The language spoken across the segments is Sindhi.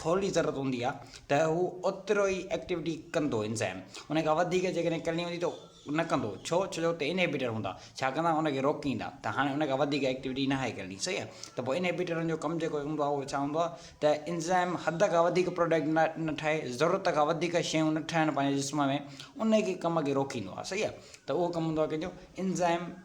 ٿورڙي ضرورت هوندي آهي ته هو اوترو ئي ايڪٽيوٽي ڪندو انزيم ان کان وڌيڪ جيڪڏهن ڪرڻي هوندي ته نه ڪندو ڇو ڇو جو اتي انهيبيٽر هوندا ڇا ڪندا ان کي روڪيندا ته هاڻي ان کان وڌيڪ ايڪٽيوٽي ناهي ڪرڻي صحيح آهي ته پوء انهيبيٽرن جو ڪم جيڪو هوندو آهي اهو ڇا هوندو آهي ته انزيم حد کان وڌيڪ پروڊڪٽ نه نه ٺاهي ضرورت کان وڌيڪ شيون نه ٺهن پنهنجي جسم ۾ ان کي ڪم کي روڪيندو آهي صحيح آهي ته اهو ڪم هوندو آهي ڪنهنجو انزيم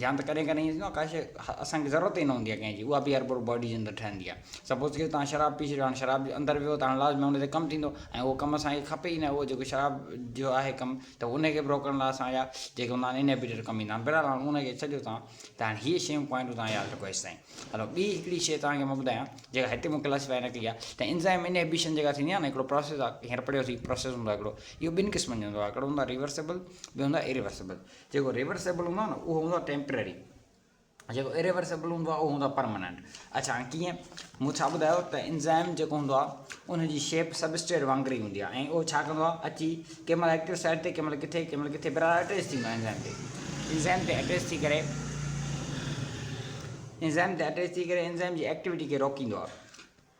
يا ته ڪڏهن ڪڏهن ائين ٿيندو آهي ڪا شيء اسان کي ضرورت ئي نه هوندي آهي ڪنهن جي اها به هر پورو باڊي جي اندر ٺهندي آهي سپوز ڪيو توهان شراب پي ڇڏيو هاڻي شراب جي اندر ويو ته هاڻي لازمي ان تي ڪم ٿيندو ۽ اهو ڪم اسان کي کپي ئي نه اهو جيڪو شراب جو آهي ڪم ته ان کي به روڪڻ لاء اسان جا جيڪي هوندا آهن انهيبيٽر ڪم ايندا آهن بهرحال هاڻي ان کي ڇڏيو توهان ته هاڻي هيء شيون پوائنٽون توهان ياد رکو هيستائين هلو ٻي هڪڙي شيء توهان کي مان ٻڌايان جيڪا هتي مون ڪلاسيفائي نه ڪئي آهي ته انزائم انهيبيشن جيڪا ٿيندي آهي نه هڪڙو پروسيس آهي هينئر پڙهيوسي پروسيس هوندو آهي هڪڙو اهو ٻن قسمن جو هوندو آهي هڪڙو هوندو آهي ريورسيبل ٻيو هوندو آهي اريورسيبل جيڪو ريورسيبل هوندو آهي نه اهو هوندو آهي ٽيمپرري جيڪو اريورسيبل هوندو آهي اهو هوندو آهي پرماننٽ اڇا هاڻي ڪيئن مون ڇا ٻڌايو ته انزائم جيڪو هوندو آهي ان جي شيپ سبسٽريٽ وانگر ئي هوندي آهي ۽ اهو ڇا ڪندو آهي اچي ڪنهن مهل ايڪٽو سائيٽ تي ڪنهن مهل ڪٿي ڪنهن مهل ڪٿي برار اٽيچ ٿيندو آهي انزائم تي انزائم تي اٽيچ ٿي ڪري انزائم تي اٽيچ ٿي ڪري انزائم جي ايڪٽيويٽي کي روڪيندو آهي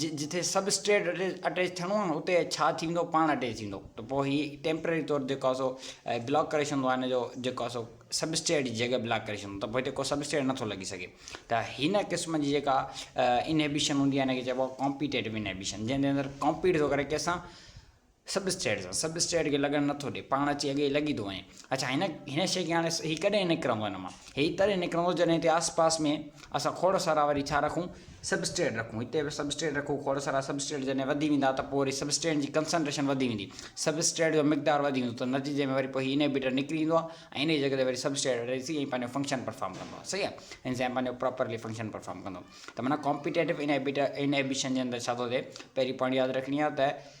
جتي سب اسٽريٽ اٽيچ ٿيڻو آهي اتي ڇا ٿيندو پاڻ اٽيچ ٿيندو ته پوء هي ٽيمپرري طور جيڪو آهي سو بلاڪ ڪري ڇڏندو آهي ان جو جيڪو آهي سو سب اسٽيٽ جي جڳهه بلاڪ ڪري ڇڏندو ته پوء هتي ڪو سب اسٽيٽ نٿو لڳي سگهي ته هن قسم جي جيڪا انهيبيشن هوندي آهي ان کي چئبو آهي ڪامپيٽيٽو انهيبيشن جنهن جي اندر ڪامپيٽ ٿو ڪري ڪنهن سان سب اسٽيٽ سان سب اسٽيٽ کي لڳڻ نٿو ڏي پاڻ اچي اڳيئي لڳي ٿو وڃي اڇا هن هن شي کي هاڻي هي ڪڏهن نڪرندو هن مان هي تڏهن نڪرندو جڏهن هتي آس پاس ۾ اسان کوڙ سارا وري ڇا رکون سب اسٽيٽ رکون هتي به سب اسٽيٽ رکون کوڙ سارا سب اسٽيٽ جڏهن وڌي ويندا ته پوء وري سب اسٽيٽ جي ڪنسنٽريشن وڌي ويندي سب اسٽيٽ جو مقدار وڌي ويندو ته نتيجي ۾ وري پوء هي انهيبيٽر نڪري ايندو آهي ۽ ان جي جڳهه تي وري سب اسٽيٽ اچي ۽ پنهنجو فنڪشن پرفارم ڪندو آهي صحيح آهي انزيم پنهنجو پراپرلي فنڪشن پرفارم ڪندو ته معنيٰ ڪامپيٽيٽو انهيبيٽر انهيبيشن جي اندر ڇا ٿو ٿئي پهرين پوائنٽ ياد رکڻي آهي ته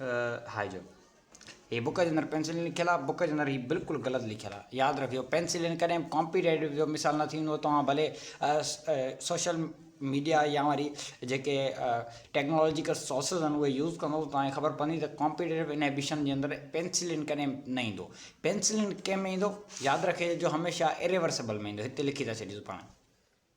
هاء جو هي بڪ جي اندر پينسلين لکيل آهي بڪ جي اندر هي بلڪل غلط لکيل آهي ياد رکجو پينسلين ڪڏهن به ڪامپيٽيٽو جو مثال نه ٿيندو توهان ڀلي سوشل ميڊيا يا وري جيڪي ٽيڪنالاجيڪل سورسز آهن اهي يوز ڪندو توهان کي خبر پوندي ته ڪامپيٽيو انهبيشن جي اندر پينسلين ڪڏهن نه ايندو پينسلين ڪنهن ۾ ايندو ياد رکجو هميشه اريورسبل ۾ ايندو هتي لکي ٿا ڇڏيون پاڻ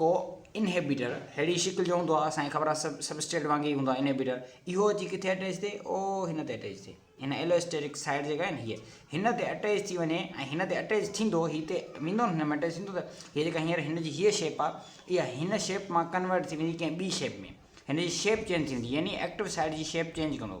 ڪو انهيبيٽر ههڙي شڪل جو هوندو آهي اسان کي خبر آهي سبسٽريٽ وانگي ئي هوندو آهي انهيبيٽر اهو اچي ڪٿي اٽيچ ٿئي او هن تي اٽيچ ٿئي هن ايلوسٽيرڪ سائيڊ جيڪا آهي هي هن تي اٽيچ ٿي وڃي ۽ هن تي اٽيچ ٿيندو هي تي ويندو هن ۾ اٽيچ ٿيندو ته هي جيڪا هينئر هن جي هيء شيپ آهي اها هن شيپ مان ڪنورٽ ٿي ويندي ڪنهن ٻي شيپ ۾ هن جي شيپ چينج ٿيندي يعني ايڪٽو سائيڊ جي شيپ چينج ڪندو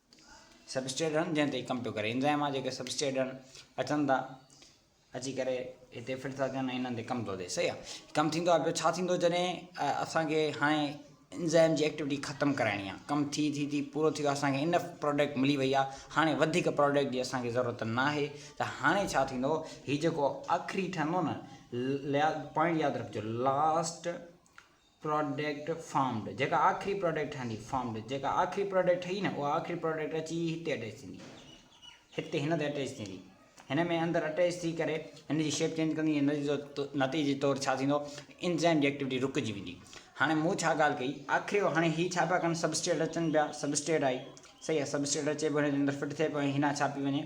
سبسٽريٽ رن جنهن تي ڪم پيو ڪري انزائم آ جيڪي سبسٽريٽ رن اچن ٿا اچي ڪري هتي فٽ ٿا ٿين انهن تي ڪم ٿو ٿئي صحيح آ ڪم ٿيندو آ پيو ڇا ٿيندو جڏهن اسان کي هاڻي انزائم جي ايڪٽيوٽي ختم ڪرائڻي آ ڪم ٿي ٿي ٿي پورو ٿي ويو اسان کي انف پروڊڪٽ ملي وئي آ هاڻي وڌيڪ پروڊڪٽ جي اسان کي ضرورت نه آهي ته هاڻي ڇا ٿيندو هي جيڪو آخري ٺهندو نه ليا پوائنٽ ياد رکجو لاسٽ پراڊڪٽ فارمڊ جيڪا آخري پراڊڪٽ ٺهندي فارمڊ جيڪا آخري پراڊڪٽ ٺهي نه اها آخري پراڊڪٽ اچي هتي اٽيچ ٿيندي هتي هن تي اٽيچ ٿيندي هن ۾ اندر اٽيچ ٿي ڪري هن جي شيپ چينج ڪندي هن جو نتيجي طور ڇا ٿيندو انزائم جي ايڪٽيوٽي رڪجي ويندي هاڻي مون ڇا ڳالهه ڪئي آخري هاڻي هي ڇا پيا ڪن سبسٽيٽ اچن پيا سبسٽيٽ آئي صحيح سبسٽيٽ اچي پيو هن جي اندر فٽ ٿئي پيو هنا ڇا پي وڃي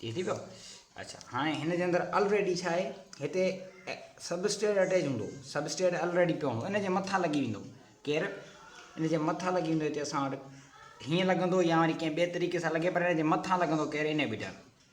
ٺيڪ ٿي پيو اچھا هاڻي هن جي اندر آلريڊي ڇا آهي هتي سبسٽيٽ اٽيچ هوندو سبسٽيٽ آلريڊي پيو هوندو ان جي مٿان لڳي ويندو ڪير ان جي مٿان لڳي ويندو هتي اسان وٽ هيئن لڳندو يا وري ڪنهن ٻئي طريقي سان لڳي پر ان جي مٿان لڳندو ڪير انهبيٽر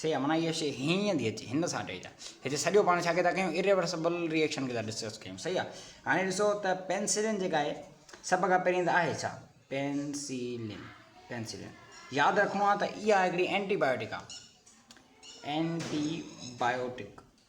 سي امنا هيء شيء هيئن ئي اندي اچي هن سان ٽي جا هتي سڄو پاڻ ڇا ڪي ٿا ڪيون Irreversible Reaction کي ٿا ڊسڪس ڪيون صحيح آهي هاڻي ڏسو ته پينسلين جيڪا آهي سڀ کان پهرين ته آهي ڇا پينسلين پينسلين ياد رکڻو آهي ته اها هڪڙي اينٽي بايوٽڪ آهي اينٽي بايوٽڪ